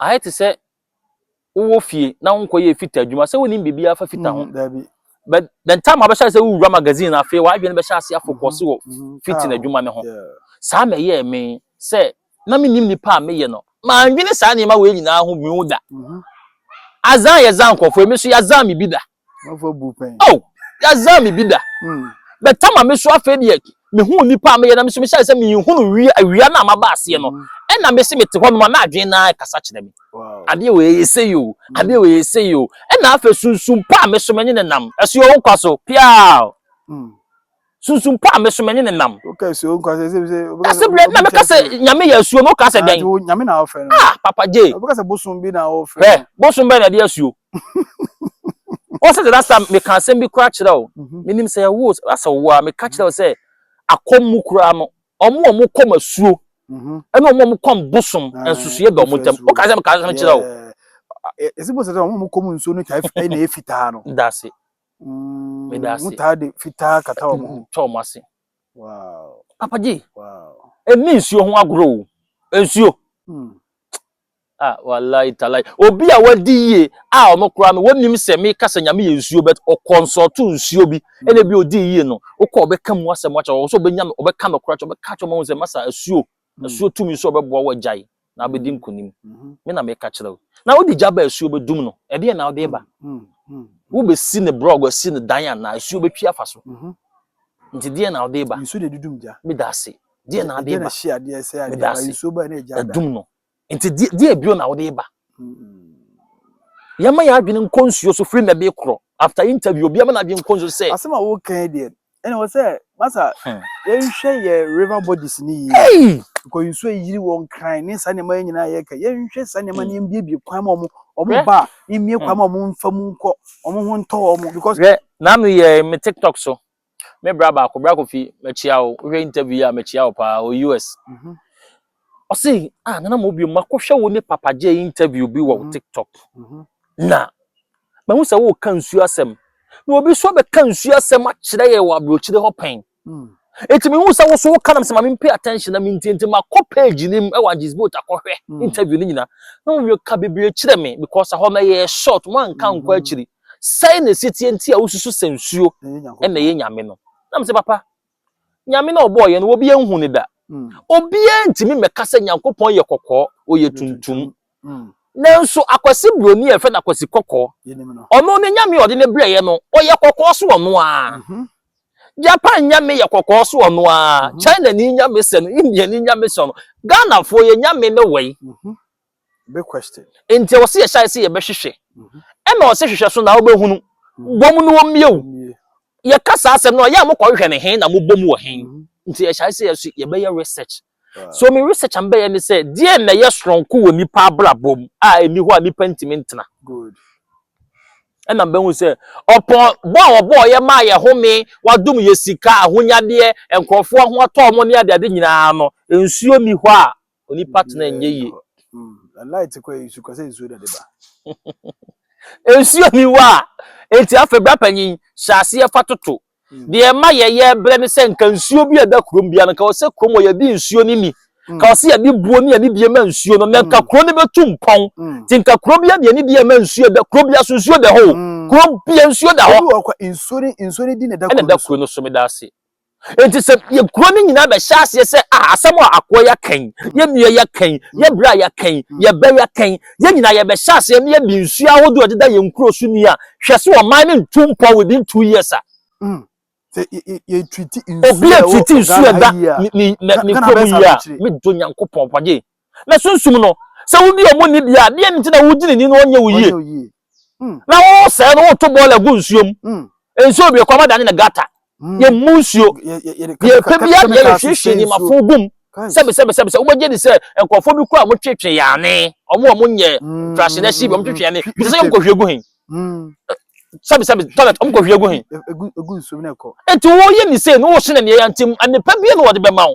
ayɛ te sɛ wowɔ fie na wonkɔyɛ fita adwuma sɛ wonim biribiara fa fita ho mm, but the time abɛhyɛ sɛ wowura magazine no afei w'adwene bɛhyɛ ase afokɔse wɔ mm, mm, fitin adwuma no ho saa ma ɛyɛɛ me sɛ na menim nipa a meyɛ no mandwene saa nneɛma wei nyinaa ho bio da mm-hmm. azan yɛ zan nkurɔfoɔ ɛmi nso yɛazan me bi da oh yazaa me bi da hmm. bɛtama me so afei deɛ mehu nipa a meyɛ na meso mehyɛ sɛ mehunu wia awia no a maba aseɛ no hmm. ɛna mese mete hɔ nom a na adwene naa kasa kyerɛ me adeɛ wɔ yɛyɛ sɛ yi o hmm. adeɛ wɔ yɛyɛ sɛ yi o ɛna afei sunsum pa a meso menye ne nam ɛso yɛ wo nkwa so piaa sunsun pa a me so mɛne ne nam. wokɛ asuo nkwa sɛ sɛ sɛ berɛ na meka sɛ nyame yɛ asuo no woka sɛ dɛn nyame na wofrɛ no ah papa gye wobɛka sɛ bosom bi na wofrɛ hwɛ bosom bɛn na ɛde asuo ɔsɛ de rasa meka asɛm bi koraa kyerɛ wo mhm. menim sɛ ɛwo rasa wo a meka kyerɛ wo mhm. sɛ akɔm mu koraa no ɔmo a ɔmo kɔm asuo mhm. ɛne ɔmo a ɔmo kɔm bosom ah, nsusueɛ bɛ ɔmo ntam woka sɛ meka asɛm kyerɛ wo ɛsɛ bɔ sɛ sɛ ɔmo a ɔmo kɔm nsuo no twa ɛna ɛfitaa no daase meda ase taa de fitaa kata wɔn ho tɔ wɔn ase wow papa gye wow ɛni nsuo ho agorɔ o nsuo hmm. ah wallahi talai obi a wadi yie a ɔno koraa no wɔnim sɛ meka sɛ nyame yɛ nsuo bɛt ɔkɔnsɔto nsuo bi hmm. ɛna bi odi yie no wokɔ ɔbɛka mu asɛm akyɛ ɔwɔ sɛ ɔbɛnya no ɔbɛka no koraa kyɛ ɔbɛka kyɛ ɔma wo sɛ masa asuo Asuo tumi nso ɔbɛboa wo agyae na abɛdi nkonim. Me na meka kyerɛ wo. Na wode gya ba asuo bɛdum no, ɛdeɛ na wode ba. Wobɛsi ne brɔg asi ne dan anaa asuo bɛtwi afa so. Nti deɛ na wode ba. Nsuo na ɛdudum gya. Meda ase. Deɛ na wode ba. Meda ase. Ɛdum no. nti deɛ bio na wode ba yɛma yɛ adwene nkɔ nsuo so firi na de korɔ after interview obi ama n'adwene nkɔ nsuo sɛ asɛm a wokan deɛ ɛna wɔ sɛ masa hmm. yɛnhwɛ yɛ river bodies ne yie because nsuo yiri wɔn kran ne saa nneɛma yɛ nyinaa yɛka yɛnhwɛ saa nneɛma ne yɛmbiebie kwan ma ɔmo ɔmo ba mmie kwan ma ɔmo mfa mu nkɔ ɔmo ho ntɔ ɔmo because. hwɛ n'ano yɛ me tiktok so. Me bra baako, bra Kofi, makyia wo. Wohwɛ interview yi a, makyia wo paa, wɔ US. Mhm. Ɔse, ah, Nana Mo bio, makɔhwɛ wo ne Papa Jay interview bi wɔ mhm. TikTok. Mhm. Na, mahu sɛ woka nsuo asɛm. Na obi so bɛka nsuo asɛm akyerɛ yɛ wɔ aburokyire hɔ pɛn. Mm. Eti mehu sɛ woso woka nam sɛ ma mempay attention na mentie nti makɔ page no mu ɛwɔ agyes boat akɔhwɛ mm. interview no nyina na wɔyɛ ka bebree kyerɛ me because ɛhɔ no ɛyɛ short moanka nkɔ mm-hmm. akyiri Sɛn na ɛsetie nti a wosusu sɛ nsuo na ɛyɛ Nyame no? Na mesɛ, Papa, Nyame no a ɔbɔɔ yɛn no, obiara nhu no da. Obiara ntumi mmɛka sɛ Nyankopɔn yɛ kɔkɔɔ, ɔyɛ tuntum. Nanso Akwasi Buroni a yɛfrɛ no Akwasi Kɔkɔɔ, ɔno ne Nyame a ɔde no brɛeɛ no, ɔyɛ kɔkɔɔ so ɔno ara. Japan Nyame yɛ kɔkɔɔ so ɔno ara. China ni Nyame sɛ no, India ni Nyame sɛ ɔno. Ghanafoɔ, yɛn Nyame ne wei. Big question. Nti ɔse yɛ hyɛ ase yɛ bɛ hwehwɛ. Ɛna ɔse hwehwɛ so na ɔbɛ hunu. Bom no ɔmie o. Yɛ ka saa asɛm no a ɔyɛ a mo kɔ hwehwɛ no hen na mo bom wɔ hen. Nti yɛ hyɛ ase yɛ so yɛ bɛ yɛ research. So me research a me bɛ yɛ ne sɛ deɛn na ɛyɛ soronko wɔ nipa abrabɔ mu a ɛni hɔ a nipa ntumi ntena. Good. Ɛna me bɛ hu sɛ ɔpɔn bɔ a ɔbɔɔ yɛ maa yɛ home, wadom yɛ sika, ahonyadeɛ, nkorɔfoɔ ho atɔ wɔn ne adeade nyinaa no nsuo ni hɔ a onipa tena nyɛ yie. light kɔ nsu kɔ sɛ nsuo na de ba. nsuo ni hɔ a eti afei bra panyin hyɛ aseɛ fa toto hmm. deɛ ɛma yɛyɛ brɛ ne sɛ nka nsuo bi a ɛda kurom bia no ka ɔsɛ kurom wɔ yɛde nsuo no ni hmm. ka ɔsɛ yɛde buo ne yɛde deɛ ma nsuo no na nka hmm. kuro no bɛtu mpɔn te nka kuro bi deɛ ne deɛ ma nsuo da kuro bia so nsuo da hɔ kuro bia nsuo da hɔ nsuo ne nsuo ne di na ɛda kuro no so meda ase Enti sɛ yɛ kuro no nyinaa bɛhyɛ aseɛ sɛ ah asɛm a akoa yɛaka yi, yɛ mmea yɛaka yi, yɛ bra yɛaka yi, yɛ bɛ yɛaka yi, yɛn nyinaa yɛbɛhyɛ aseɛ na yɛde nsuo ahodoɔ deda yɛn kuro so ni a, hwɛ sɛ ɔman no ntu mpɔn within two years a. Mm. Sɛ yɛtwiti nsuo a ɛwɔ Ghana ha yie a, Ghana bɛsa no akyire. Medɔ Nyankopɔn pɔgye. na sunsum no, sɛ wodi ɔmo ni deɛ a, deɛn nti na wogye ne ni na ɔnyɛ wo yie? Na wosɛe no, woto bɔɔla gu nsuo mu. Nsuo bebree kɔ ama dane no gata. Yɛmmu nsuo. Deɛ ɛpɛ biara deɛ yɛhwiehwie nneɛma fo gu mu. Sɛbesɛbesɛbesɛ, wobɛgye di sɛ nkurɔfoɔ bi koraa a wɔtwetwe yɛn ane, wɔn a wɔnyɛ ntrahyɛ no akyi bi, wɔtwetwe yɛn ane, bisa sɛ wɔkɔhwie gu he? Sɛbesɛbe, toilet, wɔkɔhwie gu he? Enti woyɛ ne sei na wohyɛ no aniɛyaa nti, nnepa biara na wɔde bɛma wo.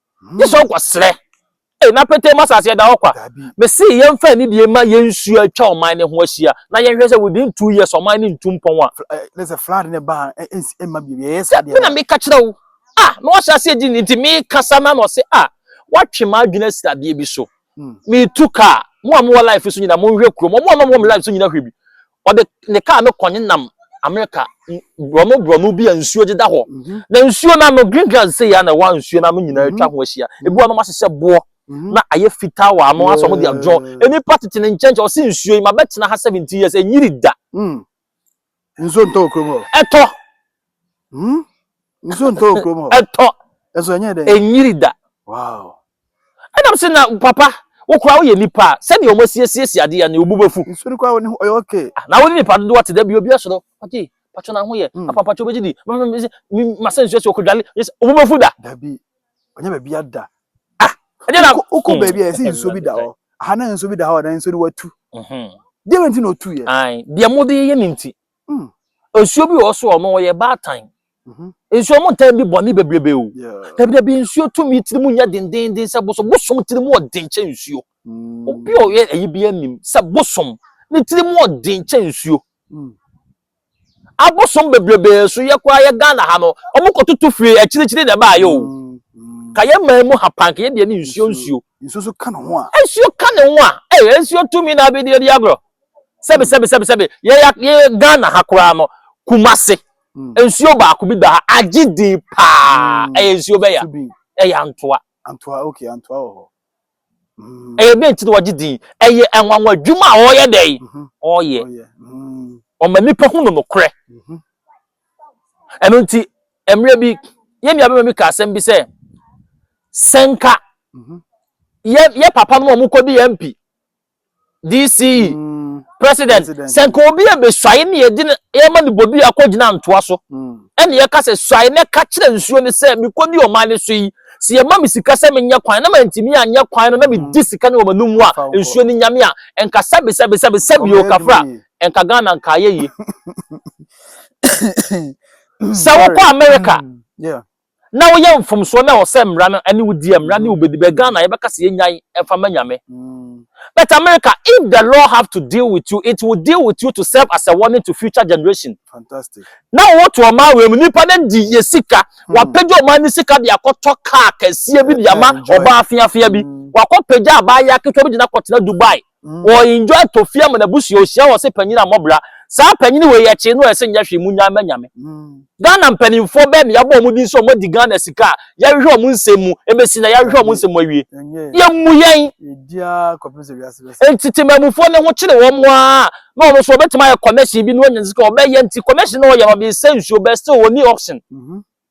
Esau kɔ srɛ. Ei, na petee mu asase ɛda hɔ kwa. Mese yɛmfa anidie mma yɛn nsuo a atwa ɔman no ho ahyia na yɛnhwɛ sɛ within two years ɔman no ntu mpɔn a. Ne sɛ flood no ba a ɛnsi ɛmma bio yɛyɛ saa deɛ. Dabi na meka kyerɛ wo. Ah, na wahyɛ aseɛ gye nti mekasa na na ɔse ah, woatwe m'adwene asi adeɛ bi so. metu kaa mo a mowɔ life so nyina monhwɛ kurom ɔmo a na ɔmo life so nyina hwɛ bi ɔde ne kaa no kɔ nenam amerika borɔno borɔno bi a nsuo deda hɔ mhm. na nsuo no ano green grass sɛ yɛ na ɛwɔ nsuo no ano nyinaa mhm. atwa ho ahyia ebi wɔn ɔmo ahyehyɛ boɔ mhm. na ayɛ fitaa wɔ ano asɔ ɔmo de adwɔn nnipa tete ne nkyɛnkyɛn ɔsi nsuo yi ma bɛtena ha seventeen years enyiri da mm. nsuo ntɔ wɔ kurom hɔ ɛtɔ hmm? nsuo ntɔ wɔ kurom hɔ ɛtɔ ɛso ɛnyɛ dɛ ɛnyiri da wow ɛnam sɛ na papa wokora woyɛ nipa a sɛdeɛ ɔmo asiesiesie adeɛ ne obu bɛfu nsuo no koraa ɔyɛ ɔke ah, na wode nipa dodoɔ te da bi obi asoro ɔgye patwo no ahoyɛ hmm. apa patwo bɛgye di masɛ nsuo sɛ ɔkɔdwale obu bɛfu da dabi ɔnyɛ baabi ada ah ɛnyɛ na wokɔ hmm. baabi a ɛsɛ nsuo bi da hɔ aha na nsuo bi da hɔ na nsuo no watu mhm. deɛ wɛnti na ɔtu yɛ deɛ mode yɛ ne nti hmm. nsuo bi wɔ so ɔno ɔyɛ baatan mhm. nsuo mu ntaa bi bɔne bebrebe o dabidabi nsuo tumi tiri mu nyɛ dendenden sɛ bosom bosom tiri mu ɔden kyɛ nsuo hmm. obi a ɔyɛ ayi bi anim sɛ bosom ne tiri mu ɔden kyɛ nsuo abosom bebrebe nso yɛ koraa yɛ ghana ha no ɔmo kɔ toto fie akyirikyiri na ɛbaa yɛ o mm-hmm. ka yɛ man mu ha pan ka yɛ deɛ ne nsuo nsuo nsuo so ka ne ho a nsuo ka ne ho a ɛyɛ nsuo tumi na abɛdi adi agorɔ sɛbi mm. sɛbi sɛbi sɛbi yɛ yɛ ghana ha koraa no kumase mm. nsuo baako bi da ha agye din paa mm. ɛyɛ nsuo bɛya ɛyɛ antoa antoa okay antoa wɔ hɔ ɛyɛ dɛn nti na wɔgye din ɛyɛ nwanwa adwuma a ɔyɛ dɛ ɔyɛ ɔma nipa hu no nokorɛ ɛno nti mmerɛ bi yɛn nua bɛma bi ka asɛm bi sɛ sɛnka yɛ yɛ papa no a wɔkɔdi yɛn mpi DCE mm. president sɛ nka obi a bɛsuae ne yɛde yɛma no bodua akɔgyina ntoa so mm. ɛne yɛka sɛ suae na ɛka kyerɛ nsuo no sɛ mekɔdi ɔman no so yi sɛ yɛma me sika sɛ menyɛ kwan na mantumi anyɛ kwan no na medi mm. sika no wɔ m'anom mu a nsuo no nyame a ɛnka sɛbesɛbesɛbe sɛbi o kafra ɛnka ghana nka ayɛ yie sɛ wokɔ amerika Na woyɛ mfomsoɔ na ɛwɔ sɛ mmara no ɛne wo di a mmara ne wo bɛdi bɛ Ghana yɛbɛka sɛ yɛnyae ɛmfa mma Nyame but America if the law have to deal with you it will deal with you to serve as a warning to future generation Fantastic. na wɔwɔ to ɔman wei mu nnipa no adi yɛ sika wɔapagya ɔman no sika de akɔtɔ car kɛseɛ bi de ama Enjoy. ɔbaa feafea bi Mm. wɔakɔpagya abaayewa ketewa bi de no akɔtena Dubai Wɔ enjoy tofia mu na busua ohyia wɔ se panyin a mɔbra saa panyin wei ɛkye no ɛse nyɛ hwee mu nyan ma nyame Ghana mpaninfoɔ bɛɛ na yabɔ ɔmo din sɛ ɔmo adi Ghana sika a yɛhwehwɛ ɔmo nsɛm mu ɛbɛsi na yɛhwehwɛ ɔmo nsɛm mu awie yɛ mmu yɛn enti temammufoɔ no ho kyere wɔn aa na ɔno nso ɔbɛtumi ayɛ commercial bi na wanya sika ɔbɛyɛ nti commercial na ɔyɛ no ɔde sɛ nsuo bɛ still ɔni option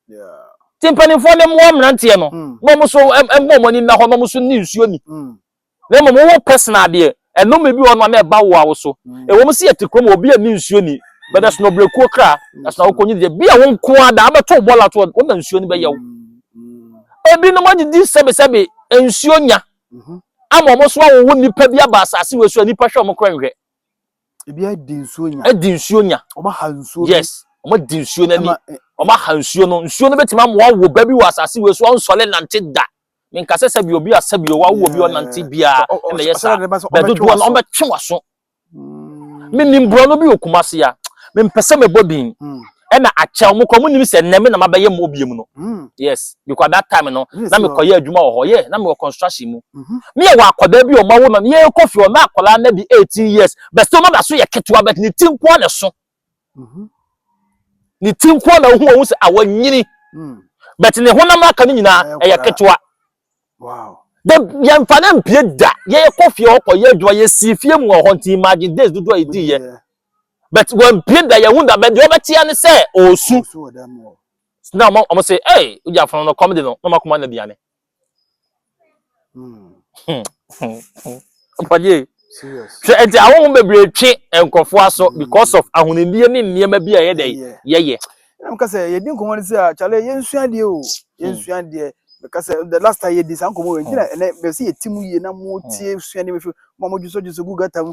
nti mpaninfoɔ no mmoa mmeranteɛ no na ɔmo nso ɛmmɔ ɔmo ani nna hɔ na ɔmo nso nni nsuo ni. na mmom wowɔ personal adeɛ. Ɛnome bi wɔ hɔnom a na ɛba wo a wo so. Ɛwɔ mu sɛ yɛte kurom a obi anni nsuo nni, but ɛsono brɛkuo kra, ɛsono akokɔ nyini deɛ. Bi a wo nko ara daa bɛto wo bɔɔla to hɔ, wo na nsuo no bɛyɛ wo. Ebinom adidi sɛbesɛbe nsuo nya ama wɔn nso awowo nnipa bi aba asase wei so a nnipa hwɛ wɔn koraa nhwɛ. Ebi adi nsuo nya. Adi nsuo nya. Wɔn aha nsuo bi. Yes, wɔn adi nsuo n'ani. Wɔn aha nsuo no. Nsuo no bɛtumi ama wɔawo ba bi wɔ asase wei so a ɔnsɔre nnante da. menkasɛ sɛbi obi a sɛbi o wawo obi ɔnante biara na ɛyɛ saa bɛdodoɔ no ɔbɛtwe waso mm. menim borɔno bi wɔ kumase a mempɛ sɛ mɛbɔ din mm. ɛna akyɛ wɔn kɔ wɔn nim sɛ nnɛ me na mabɛyɛ mu obie mu no mm. yes because that time no na mekɔyɛ adwuma wɔ hɔ yɛ na mewɔ construction mu mm-hmm. me yɛ wɔ akwadaa bi ɔma wo no yɛkɔ fie ɔna akwadaa na di eighteen years bɛsɛ ɔma da so yɛ ketewa bɛt ne ti nkoa na so mhm. ne ti nkoa na wohu wɔn sɛ a wɔnyini mm. but ne honam aka no nyinaa ɛyɛ ketewa de yɛmfa no mpie da yɛkɔ fie hɔ kɔyɛ adwuma yɛsii fie mu wɔ hɔ nti imagine days dodoɔ a ɛdiiɛ but wɔmpie da yɛhu da but deɛ wɔbɛteɛ ne sɛ ɔɔsu na wɔn sɛ ɛy wogya fono no kɔm de no na wɔakoma no aduane ɔpɔgye hwɛ nti ahohom bebree twe nkurɔfoɔ aso mm. because of ahonidie ne nneɛma bi a yɛ dɛ yɛyɛ. ɛnam ka sɛ yɛdi nkɔmmɔ no sɛ a kyale yɛnsua deɛ o yɛnsua mm. deɛ meka sɛ the last time yɛdi saa nkɔmmɔ wɔ nti na mm. ɛnɛ bɛ sɛ yɛti mu yie na motie sua nneɛma fi ma modwosɔdwosɔ gu gata mu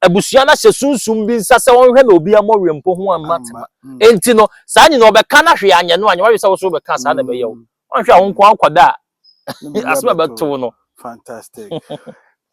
abusua no ahyɛ sunsum bi nsa sɛ ɔnhwɛ na obi ammɔ wempo ho amma tema. Mm. Enti no, saa nyina ɔbɛka no hwee anyɛ no a, nyɛ wadwe sɛ wo so wobɛka saa na ɛbɛyɛ wo. Mm. Ɔnhwɛ a wo nko akɔda a asɛm a ɛbɛtow no. Fantastic.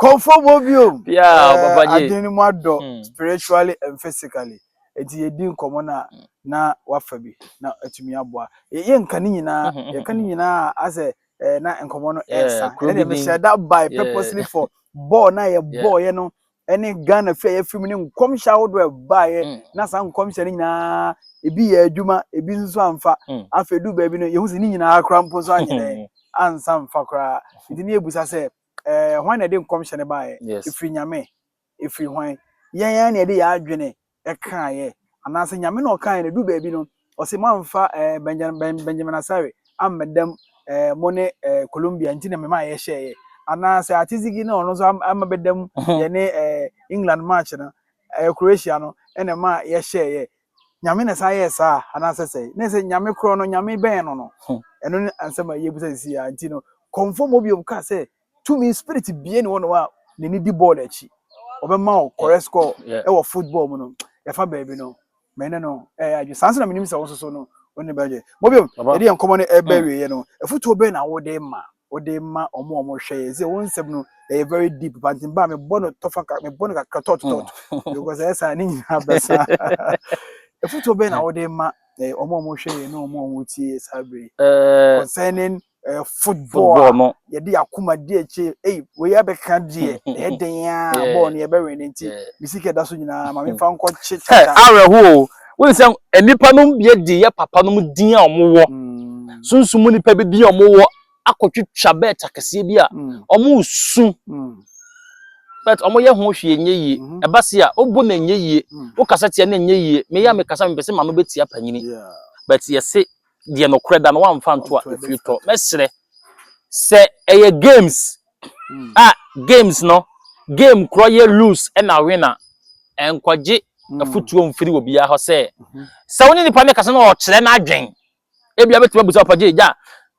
Kɔmfɔ bɔ bio. Eh, adwene no mu adɔ hmm. spiritually and physically. Enti yɛdi nkɔmmɔ no a hmm. na wafa bi na atumi aboa. Yɛnka ne nyinaa, hmm, yɛka ne nyinaa asɛ eh, na nkɔmmɔ no ɛnsa. Ɛne deɛ mehyɛ da by purposely for bɔɔl na yɛbɔɔyɛ no ɛne ghana fi a yɛfiri mu ne nkɔmhyɛ ahodoɔ ɛbaeɛ mm. na saa nkɔmhyɛ no nyinaa ebi yɛ adwuma ebi nso amfa mm. afei du baabi no yɛhu sɛ ne nyinaa kora mpo nso anyerɛ mm. ansa mfa koraa nti ne yɛbusa sɛ ɛɛ hwan na ɛde nkɔmhyɛ no baeɛ ɛfiri nyame ɛfiri hwan yɛn yɛn na yɛde yɛ adwene kaeɛ anaasɛ Nyame na ɔkaeɛ na ɛduru baabi no ɔse moamfa eh, Benjamin, ben, Benjamin Asare ammɛdam eh, mo ne eh, Colombia nti na mema yɛhyɛeɛ anaasɛ Atizigi na ɔno nso ama bɛdam yɛne eh, England match no eh, Croatia no ɛna ɛma yɛhyɛeɛ Nyame na saa yɛɛ saa anaasɛ sɛe na sɛ Nyame korɔ no Nyame bɛn no no ɛno ne ansɛm a yɛbusa sisi a nti no kɔmfɔ mɔ biom ka sɛ tumi spirit bie ne wɔnom a n'ani di bɔɔl akyi ɔbɛma wo correct score ɛwɔ football mu no yɛfa baabi no mɛne no ɛyɛ adwe saa nso na menim sɛ wo soso no wo ne bɛgye mobio yɛde yɛ nkɔmmɔ no ɛbɛ mm. wieɛ no ɛfotuo bɛɛ na wode ma wode ma ɔmo ɔmo hwɛ yɛ sɛ wo nsɛm no ɛyɛ very deep but mba mebɔ no tɔfa mebɔ no kakra tɔt tɔt mm. because ɛyɛ saa ne nyinaa bɛsa ɛfotuo bɛɛ na wode ma ɔmo ɔmo hwɛ yɛ ne ɔmo ɔmo tie saa bere concerning Eh, football, football no yɛde akoma di akyi ei wei abɛka deɛ ɛyɛ den a bɔɔl no yɛbɛwɛn ne nti mesi ka ɛda so nyinaa ma memfa nkɔ kye tata awerɛhoɔ wone sɛ nnipa nom deɛ de yɛ papa nom din a wɔwɔ mm. sunsum mu nnipa bi din a wɔwɔ akɔtwitwa bɛɛ takɛseɛ bi a mm. wɔn su mm. but wɔn yɛ ho hwee nyɛ yie mm-hmm. ɛba se a wobu na nyɛ yie mm. wokasa tia na nyɛ yie meyɛ a mekasa mepɛ sɛ ma no bɛtia panyini but yɛse deɛ nokorɛ da no wamfa anto a ofie tɔ mɛsrɛ sɛ ɛyɛ games hmm. a ah, games no game korɔ yɛ lose ɛna win a ɛnkɔgye hmm. afutuo mfiri wɔ biara hɔ sɛ mhm. sɛ wo ne nipa no kasa na ɔkyerɛ no adwen ebi abɛtumi abusa ɔpagye gya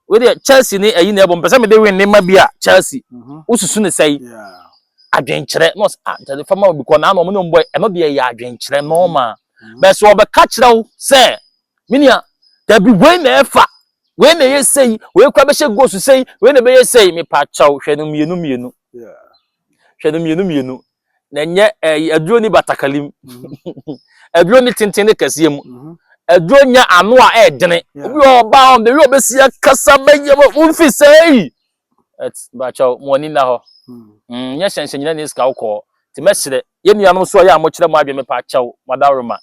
wede chelsea ne ayi na ɛbɔ mpɛ sɛ mede win ne ma bi a chelsea mhm. wosusu ne sɛe adwenkyerɛ na ɔsɛ ah ntɛde fama obi kɔ na ana ɔmo ne ɔmo bɔ ɛno deɛ yɛ adwenkyerɛ nɔɔma mhm. bɛsɛ ɔbɛka kyerɛ wo sɛ me nua dabi wei na ɛfa wei na ɛyɛ sei wei kora bɛhyɛ gosu sei wei na ɛbɛyɛ sei mepa kyɛw hwɛ no mmienu mmienu hwɛ no mmienu mmienu na ɛnyɛ ɛyi aduro ni batakali mu aduro ni tenten ne kɛseɛ mu aduro nya ano a ɛɛdene obi wɔ ɔbaa wɔn bɛyɛ ɔbɛsi akasa bɛyɛ wɔn fi sɛɛ bakyɛw mo ani na hɔ nyɛ hyɛnhyɛn nyina ne sika wokɔɔ te mɛkyerɛ yɛ nuanom so a yɛ a mokyerɛ mo adwene mepa kyɛw mo adaworoma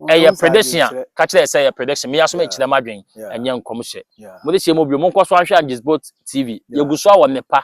Ɛyɛ prediction a, ka kyerɛ sɛ ɛyɛ prediction. Me aso mekyerɛ m'adwen, ɛnyɛ nkɔmhyɛ. Mode hyɛ mu bio, monkɔ so ahwɛ Agisbot TV. Yɛgu so awɔ nnepa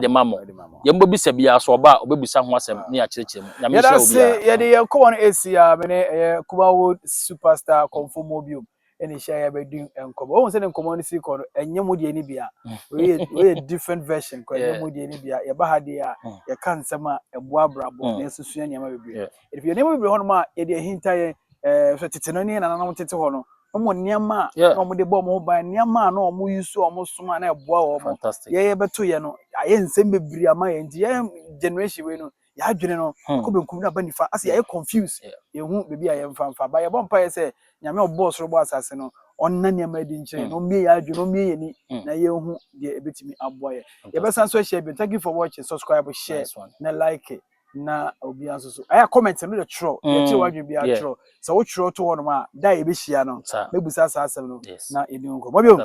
de ma mo. Deɛ mobɛbisa biara, sɛ ɔba a, ɔbɛbisa ho asɛm na yɛakyerɛkyerɛ mu. Nyame nhyira obiara. Yɛda ase, yɛde yɛn nkɔmmɔ no ɛsi ha, me ne ɛyɛ Kumawood Superstar Komfo Mobium. ɛna ehyia yɛ bɛdi nkɔmɔ ohun sɛ ne nkɔmɔ no si kɔ no ɛnyɛ mu deɛ ni bia oyɛ oyɛ different version kɔ ɛnyɛ mu deɛ ni bia yɛba ha deɛ a mm. yɛka nsɛm a ɛboa abrabɔ mm. na yɛsusua nneɛma bebree ebi nneɛma bebree hɔ nom a yɛde ahinta yɛn ɛɛ eh, so tete no ne nananom tete hɔ no wɔn nneɛma a na wɔn de bɔ wɔn ho ban nneɛma a na wɔn yi so a wɔn som a na ɛboa wɔn yɛyɛ bɛto yɛ no ayɛ nsɛm bebree ama yɛn nti yɛn generation wei no yɛadwene no hmm. akɔ benkum na aba nifa asɛ yɛayɛ confuse yɛhu baabi a yɛmfa mfa ba yɛbɔ mpaeɛ sɛ nyame ɔbɔɔ soro bɔ asase no ɔnna nneɛma adi nkyerɛ hmm. na ɔmmie yɛ adwene ɔmmie yɛ ni hmm. na yɛhu deɛ ɛbɛtumi aboa yɛ yɛbɛsan so ahyia bio thank you for watching subscribe share na like na obiara nso so ɛyɛ comment no de twerɛ yɛkyerɛ wadwene biara twerɛ sɛ wotwerɛ to hɔnom a da a yɛbɛhyia no mɛbusa saa asɛm no na yɛdi ho nkɔmmɔ bio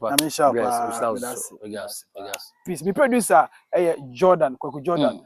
na menhyɛ paa peace me producer ɛyɛ jordan kwaku jordan mm.